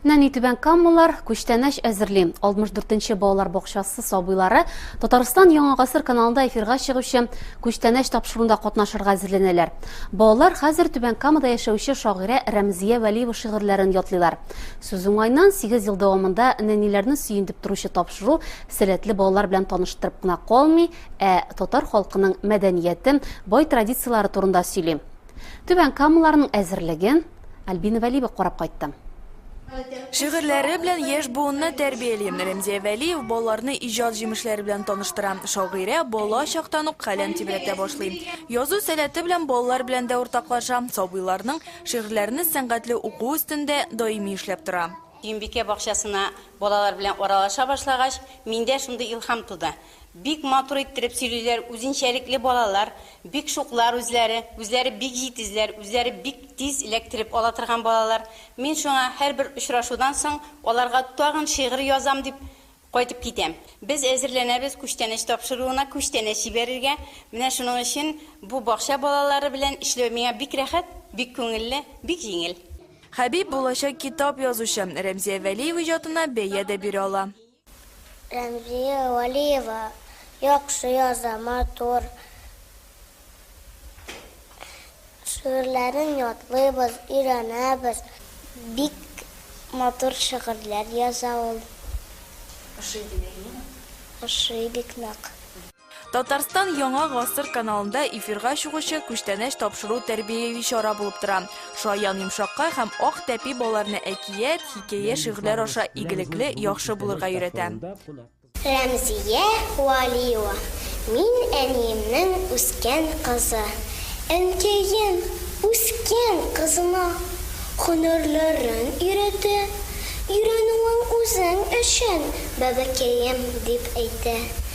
Нәни түбән каммалар күчтәнәч әзерли. 64-нче балалар бакчасы сабыйлары Татарстан Яңа гасыр каналында эфирга чыгучы күчтәнәч тапшыруында катнашырга әзерләнәләр. Балалар хәзер түбән камада яшәүче шагыйрә Рәмзия Вәлиева шигырьләрен ятлыйлар. Сүз уңайнан 8 ел дәвамында нәниләрне сөендеп торучы тапшыру сәләтле балалар белән таныштырып кына калмый, ә татар халкының мәдәнияте, бай традицияләре турында сөйли. Түбән Камаларның әзерлеген Альбина Вәлиева карап кайтты. Шигырьләре белән яшь буынны тәрбияли. Рәмзия Вәлиев балаларны иҗат җимешләре белән таныштыра. Шагыйрә бала чактан ук каләм тибрәтә башлый. Язу сәләте белән балалар белән дә уртаклаша, сабыйларның шигырьләрне сәнгатьле уку өстендә даими эшләп тора. Сөембикә бакчасына балалар белән аралаша башлагач, миндә шундый илһам туды. Бик матур иттереп сөйлиләр, үзенчәлекле балалар, бик шуклар үзләре, үзләре бик җитезләр, үзләре бик тиз эләктереп ала торган балалар. Мин шуңа һәрбер очрашудан соң аларга тагын шигырь язам дип кайтып китәм. Без әзерләнәбез күчтәнәч тапшыруына, күчтәнәч җибәрергә. Менә шуның өчен бу бакча балалары белән эшләү миңа бик рәхәт, бик күңелле, бик җиңел. Хәбиб, булачак китап язучы, Рәмзия Вәлиева иҗатына бәя дә бирә ала. Рәмзия Вәлиева яхшы яза, матур. Шигырьләрен ятлыйбыз, өйрәнәбез. Бик матур шигырьләр яза ул. Ошый димәк, әйеме? Ошый бик нык. Татарстан Яңа гасыр каналында эфирга чыгучы күчтәнәч тапшыру тәрбияви чара булып тора. Шаян йомшакка һәм ак тәпи балаларны әкият, хикәя, шигырьләр аша игелекле, яхшы булырга өйрәтә. Рәмзия Вәлиева, Мин әниемнең үскән кызы. Әнкәем үскән кызына һөнәрләрен өйрәтә. Өйрәнүең үзең өчен, бәбекәем, дип әйтә.